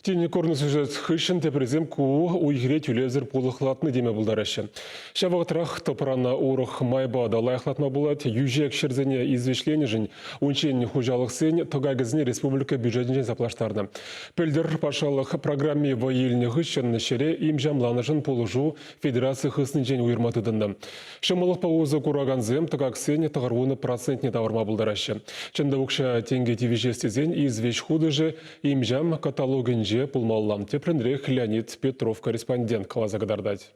Тин курнӑ сюжет хыҫҫӑн теприсем ку уй-хире тӳлевсӗр пулӑхлатнӑ теме пултараҫҫӗ. Ҫав вӑхӑтрах тӑпрана урӑх майпа та лайӑхлатма пулать, йӳҫек ҫӗрсене извеҫленӗшӗн унччен хуҫалӑхсен тӑкакӗсене республика бюджетӗнчен саплаштарнӑ. Пӗлтӗр патшалӑх программи вӑй илнӗ хыҫҫӑн ҫӗре имҫамланӑшӑн пулӑшу федераци хыснинчен уйӑрма тытӑннӑ. Ҫӑмӑллӑхпа усӑ куракансем тӑкаксен тӑхӑрвунӑ процентне тавӑрма пултараҫҫӗ. Чӑн та укҫа тенкӗ тивӗҫес тесен извеҫ хутӑшӗ им-ҫам каталогӗнче пулмалла, тепринрех Леонид Петров корреспондент каласа кӑтартать.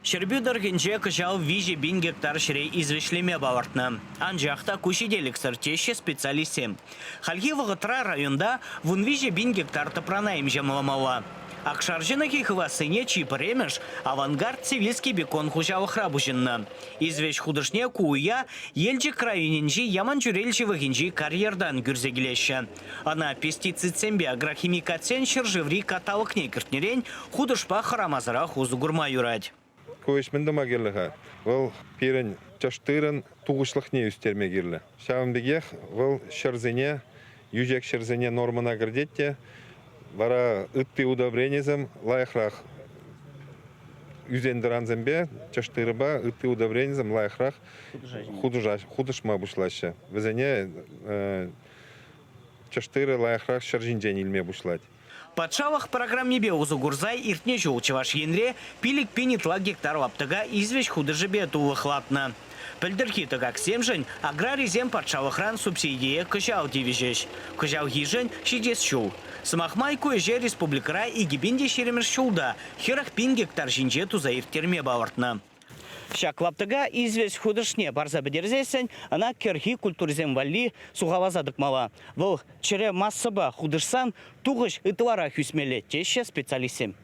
Ҫӗрпӳ тӑрӑхӗнче кӑҫал виҫӗ пин гектар ҫӗре извеҫлеме палӑртнӑ. Анчах та ку ҫителӗксӗр, теҫҫӗ специалистсем. Хальхи вӑхӑтра районта вун виҫӗ пин гектар тӑпрана им-ҫамламалла. Акшар ҫӑнӑхӗ хывассине чи пӗрремӗш Авангард Сивильский бекон хуҫалӑхра пуҫӑннӑ. Извеҫ хутӑшне ку уя Елчӗк районӗнчи Яманчӳрел ҫывӑхӗнчи карьертан кӳрсе килеҫҫӗ. Ӑна пестицидсемпе агрохимикатсен ҫӗршыври каталогне кӗртнӗрен хутӑшпа хӑрамасӑрах усӑ курма юрать. Ку ӗҫ мӗн тума кирлӗ-ха? Вӑл пирӗн тӗш тырӑн тухӑҫлӑхне ӳстерме кирлӗ. Ҫавӑн пекех вӑл ҫӗрсене, йӳҫек ҫӗрсене нормӑна кӗртет те, вара ытти удобренисем лайӑхрах ӳсен-тӑрансемпе тӗш тырӑпа ытти удобренисем лайӑхрах хутӑшма пуҫлаҫҫӗ. Вӗсене тӗш тырӑ лайӑхрах ҫӗр ҫинчен илме пуҫлать. Патшалӑх программипе усӑ курса иртнӗ ҫул Чӑваш Енре пилӗк пин ытла гектар лаптӑка извеҫ хутӑшӗпе тулӑхлатнӑ. Пӗлтӗрхи тӑкаксемшӗн аграрисем патшалӑхран субсидие кӑҫал тивӗҫӗҫ. Кӑҫалхишӗн ҫитес ҫул. Сӑмах май, ку ӗҫе республикӑра икӗ пин те ҫирӗммӗш ҫулта хӗрӗх пин гектар ҫинче туса ирттерме палӑртнӑ. Ҫак лаптӑка извеҫ хутӑшне парса пӗтерсессӗн ӑна кӗрхи культурӑсем валли сухаласа тӑкмалла. Вӑл чӗре массӑпа хутӑшсан тухӑҫ ытларах ӳсмелле, теҫҫӗ специалистсем.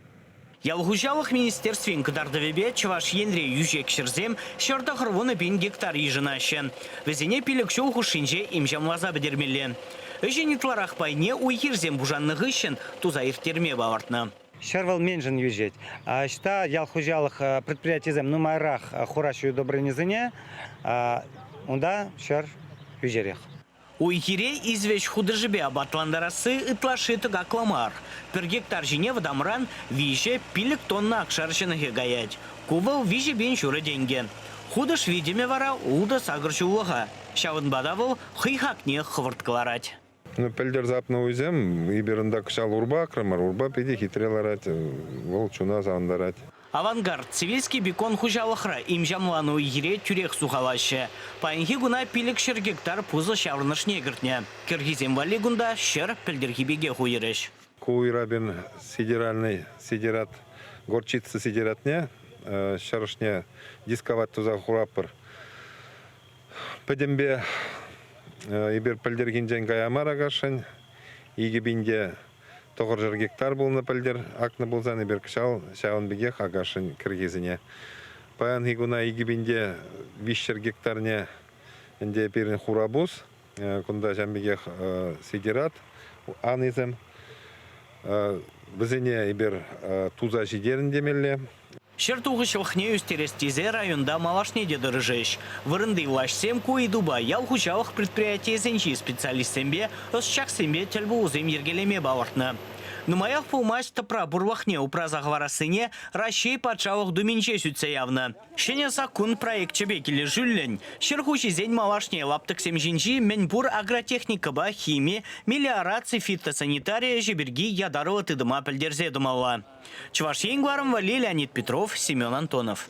Ял хуҫалӑх министерствин кӑтартӑвӗпе Чӑваш Енре йӳҫек ҫӗрсем ҫӗр тӑхӑр вунӑ пин гектар йышӑнаҫҫӗ. Вӗсене пилӗк ҫул хушшинче им-ҫамласа пӗтермелле. Ӗҫӗн ытларах пайне уй-хирсем пушаннӑ хыҫҫӑн туса ирттерме палӑртнӑ. Ҫӗр вӑл меншӗн йӳҫет. Ӑҫта ял хуҫалӑх предприятийӗсем нумайрах хураҫҫӗ удобренисене, унта ҫӗр йӳҫерех. Уй-хире извеҫ хутӑшӗпе апатлантарасси ытлашши тӑкакла мар. Пӗр гектар ҫине вӑтамран виҫӗ пилӗк тонна акшар ҫӑнӑхӗ каять. Ку вӑл виҫӗ пин ҫурӑ тенкӗ. Хутӑш витӗмӗ вара ултӑ сакӑр ҫуллӑха, ҫавӑнпа та вӑл хӑй хакне хӑвӑрт кӑларать. Пӗлтӗр сапнӑ уйсем, эпир унта кӑҫал урпа акрӑмӑр, урпа питӗ хитре ларать, вӑл чуна савӑнтарать. Авангард, Сибирский бекон хуҫалӑхра им-ҫамланӑ уй-хире тӳрех сухалаҫҫӗ. Паянхи куна пилӗк-ҫӗр гектар пусӑ ҫаврӑнӑшне кӗртнӗ. Кӗрхисем валли кунта ҫӗр пӗлтӗрхи пекех уйӑрӗҫ. Ку уйрапин федеральнӑй сидерат горчица сидератне ҫӗр ӑшне дисковать туса хуратпӑр. Пӗтӗмпе эпир пӗлтӗрхинчен кая мар Акашшӗн. Икӗ пинте тӑхӑршар гектар пулнӑ пӗлтӗр акнӑ пулсан эпир кӑҫал ҫавӑн пекех Акашшӗн кӗркесене паянхи куна икӗ пинте виҫҫӗр гектарне ӗнтӗ пирӗн хурапус, кунта ҫавӑн пекех сидерат анисем. Вӗсене эпир туса ҫитерӗн темелле. Ҫӗр тухӑҫлӑхне ӳстерес тесе районта малашне те тӑрӑшӗҫ. Вырӑнти влаҫсем ку ыйтупа ял хуҫалӑх предприятийӗсенчи специалистсемпе, ӑсчахсемпе тӗл пулусем йӗркелеме палӑртнӑ. Нумаях пулмасть тӑпра пурлӑхне упраса хӑварассине Раҫҫей Патшалӑх Думинче сӳтсе явнӑ. Ҫӗнӗ саккун проекчӗпе килӗшӳллӗн, ҫӗр хуҫисен малашне лаптӑксем ҫинчи мӗнпур агротехникӑпа хими, мелиораци, фитосанитари ӗҫӗ пирки ятарлӑ тытӑма пӗлтерсе тӑмалла. Чӑваш Ен кӑларӑм валли Леонид Петров, Семен Антонов.